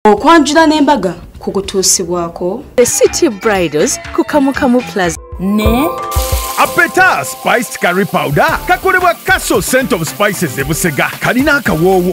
okwanjula n'embaga ku kutuusibwako the city bridals ku kamukamu plaza ne apeta spiced curry powder kakolebwa castle cent of spices ebusega kalina akawoowo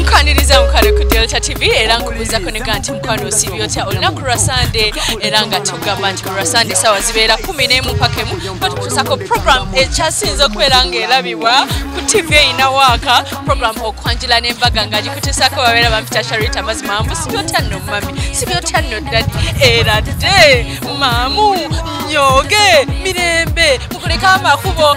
nkwaniriza mukwano ku delta tv era nkubuuzako nega nti mukwano osibi otya olunaku lwa sande era nga tugamba nti olwa sande sawa zibeera kumi nemu mpaka emu batukusako program ekyasinze okubeera nga erabibwa ku tv erina waaka program okwanjula n'embaga nga gikutesaako babeera bampita sharita mazima mbu sibi otya nno mumami sibi otya nno ddadi era dde maamu nyoge mirembe mukuleka amakubo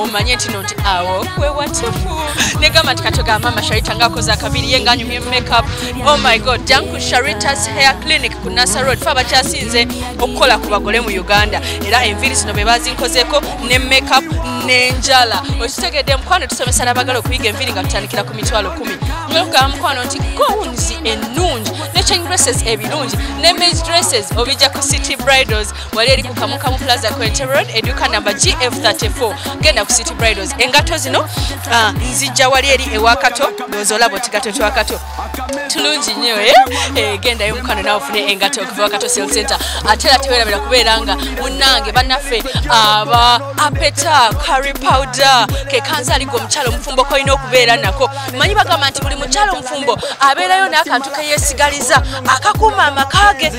omanye ntino nti awo we watufu negamba nti katoga mama sharita ngakoze akabiri ye nganyumye makeup oh my god janku sharitas hair clinic ku nasa road fe abakyasinze okukola ku bagole mu uganda era enviri zino be bazinkozeko ne makeup nenjala okitegedde mukwano tusomesa nabagala okuyiga enviri nga tutandikira ku mitwalo kumi nokugamba mukwano nti gowns enungi ne change dresses ebirungi ne mage dresses obijja ku city bridals wali eri ku kamukamu plaza quente road eduka namba gf34 genda ku city bridals engato zino ah, nzijja wali eri ewakato nozolabo tigato twakato tulungi nyo eh? eh, gendayo mukano nawe ofune engato okuva wakato sel center ate era tewerabira kubeera nga munange banaffe aba apeta carry powder kekanzaliga omukyalo omufumbo kolina okubeera nako manyi bagamba nti buli mukyalo omufumbo abeerayo n'akantu keyesigaliza akakuuma amaka ge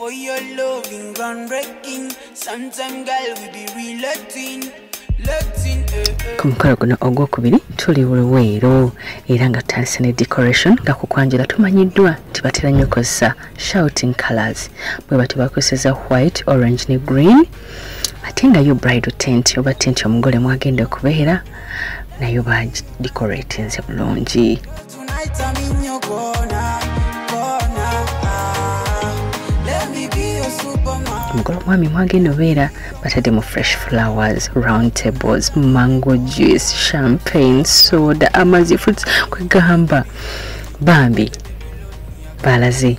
For your loving, groundbreaking. Sometimes, girl, we be real Latin. ku mukolo guno ogwokubiri tuli luweero era nga tutandise ne decoration nga ku kwanjula tumanyiddwa nti batera nnyo kozesa shouting colors bwe bati bakozeseza white orange ne green ate nga yo bride tent oba tent omugole mwagenda okubeera nayo bagidecoratinze bulungi mukulu omwami mwagenda obeera batadde mu fresh flowers round tables mango juice champagne soda amazi fruits kwegamba bambi baalaze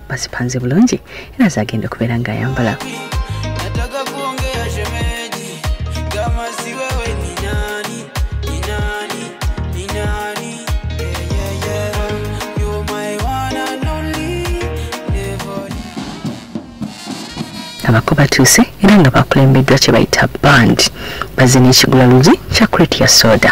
bazipanze bulungi era zagenda okubeera ng'ayambala abako batuuse era nga bakulembeddwa kye bayita band bazze n'ekigula luzi kya crate ya soda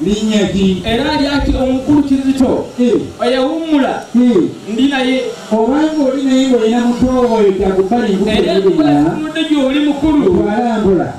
linnya ki era lyaki omukulu kizito eh. oyawummula eh. ndi naye obanga oli naye ngaolina muto oyo takubalinudde gyoli mukulu alambula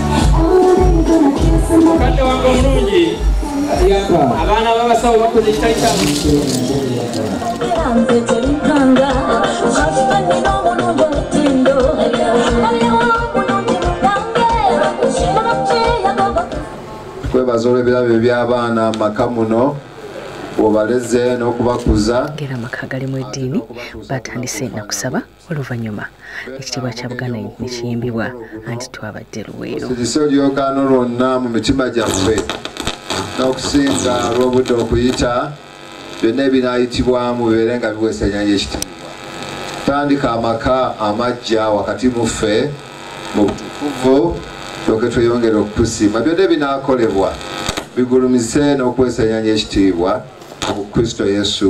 mukadde wange omulungi abaana babasawo bakoze ekitali kyamu kwebaza olw'ebirabo eby'abaana maka muno obaleze n'okubakuza ngera amaka galimu eddiini batandise nakusaba oluvannyuma ekitiibwa kya buganda nekiyimbibwa anti twabadde luweero kiso lyokano lwonna mu mitima gyaffe n'okusinga lw'obudde okuyita byonna ebinaayitibwamu bibeere nga biweesa enyanja ekitiibwa tandika amaka amajja wakati mu ffe mu butukuvu toke tweyongere okukusiima byonna ebinaakolebwa bigulumize n'okuweesa enyanja ekitiibwa mu kristo yesu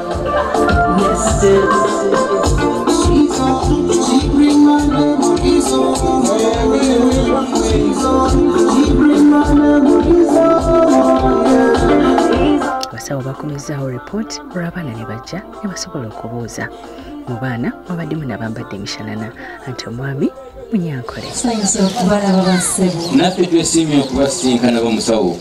abasawo bakomezzaawo ripooti olw'abaana ne bajja ne basobola okubuuza mu baana mwabaddemu nabambadde emishanana anti omwami munyankole naffe twesiimye okubasisinkana bomusawo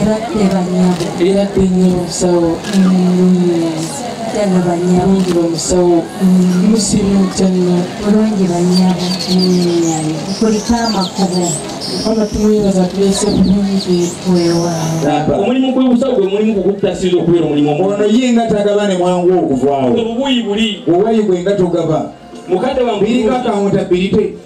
Eradde banyabo. Eradde nnyo musawo. Kyano banyabo. Mulungi bamusawo. Musiimu kyano. Mulungi banyabo. Kulika amakubo. Mukama tumwebaza tulese bulungi. Weewaawo. Omulimu gw'obusawo gwe mulimu gukutasiza okubeera omulimu. Ono ye nga tagaba ne mwangu okuvaawo. Obubuyi buli. Obubuyi bwe nga togaba. Mukadde wange. Biriko akawunta birite.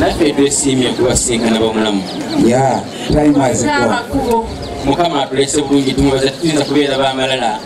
naffe twesiimye kubasinkana bamulamu mukama atulese bulungi tumubaza tuyinza kubeera bamalala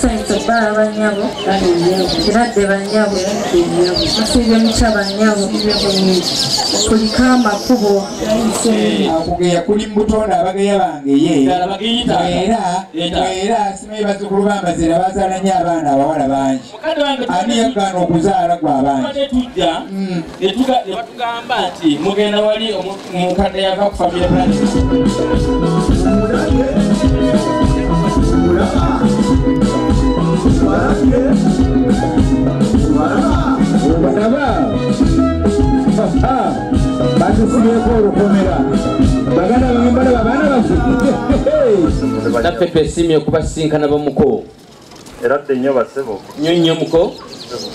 Sente bala banyabo kirade banyabo musiibye mukya banyabo kulika amakubo akugeya kuli mubutonda abageya bange ye era era simanyi bazukulu bambazira bazaala nyo abaana abawala bangi ani yagaana okuzaala gwa bangi mukadde yava ku family planning batusibeko olukomera baganda bambalaba baana baffe naffe twesiimye okubasinkana bamuko era dde nnyo basebo nyo nyo muko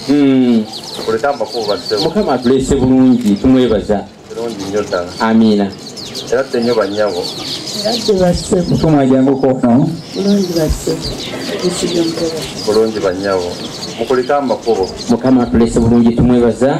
hmm. kuleta amakulu basebo mukama atulese bulungi tumwebaza kirungi nnyo ddala amiina era dde nnyo bannyabo tumwajanguko no bulungi bannyabo mukulika amakubo mukama atulese bulungi tumwebaza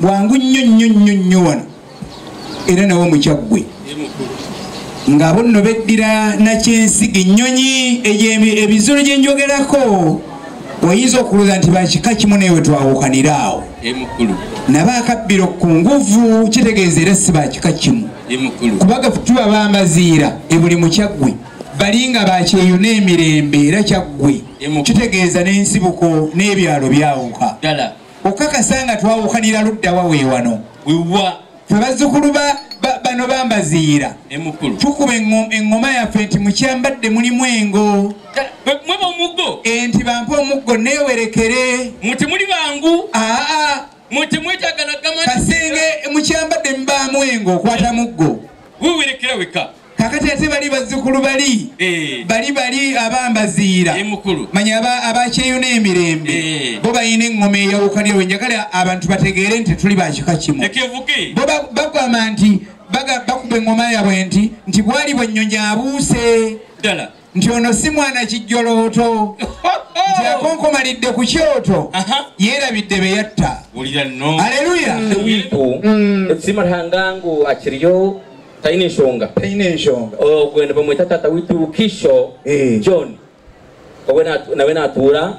bwangu nnyo nnyo nnyo nnyo wano era nawe mukyaggwe ng'abo nno beddira nakyensiga ennyonyi ebizolo gye njogerako oyinza okulooza nti bakika kimu naye we twawukanira awo naba akabbiro ku nguvu kitegeeza era si bakika kimu kubaga tuba bamaziira ebuli mukyaggwe bali nga bakyeyo n'emirembe era kyaggwe kitegeeza n'ensibuko n'ebyalo byawuka okakasa nga twawukanira luddawa wewano wewa fe bazzukulu bano bambaziira tukuba eŋŋoma yaffe nti mukyambadde mulimu engo mweba omuggo enti bampa omuggo newerekere muti muli bangu aa muti mwetagana gama kasenge mukyambadde mubaamu engo okwata muggo wewerekera weka kakati ate bali bazzukulu bali eh. bali bali abambaziira eh, manya abakyeyuna emirembe eh. bo balina eŋŋoma eyawukanirwe njagala abantu bategeere nti tuli bakika kimu bo bagamba nti bakuba eŋŋoma yabwe nti nti bwali bwennyonyi abuuse nti ono si mwana kijjolooto nti akonkomalidde ku kyoto yeerabidde be yatta aleluya simahangangu akiriyo talina ensonga talina ensonga ogwene bamweta taata witukisho eh. john nawe natuula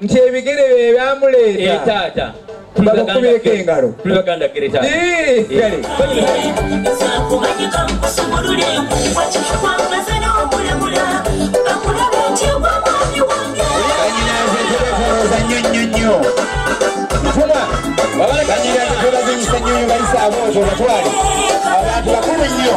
nti ebigere bye byamuleeta eh, taata babukubireko engalo abantu bakulu nnyo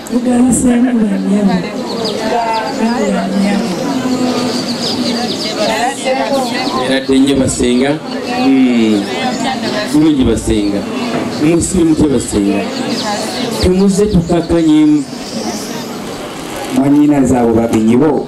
eradde nnyo basenga bulungi hmm. basenga musibe mutya basenga temuze tukakanyemu manyina zaabo babinyibo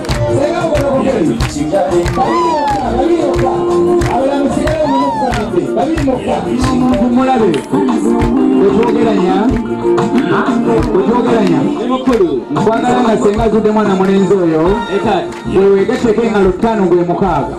nkwagala nga senga azudde mwana mulenzi oyo wewegeteko engalo ttaano gwe mukaaga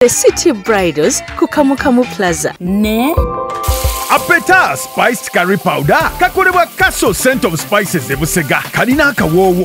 The City Bridals ku Kamukamu Plaza. Ne? Apeta Spiced Curry Powder kakolebwa Castle Scent of Spices e Busega kalina akawoowo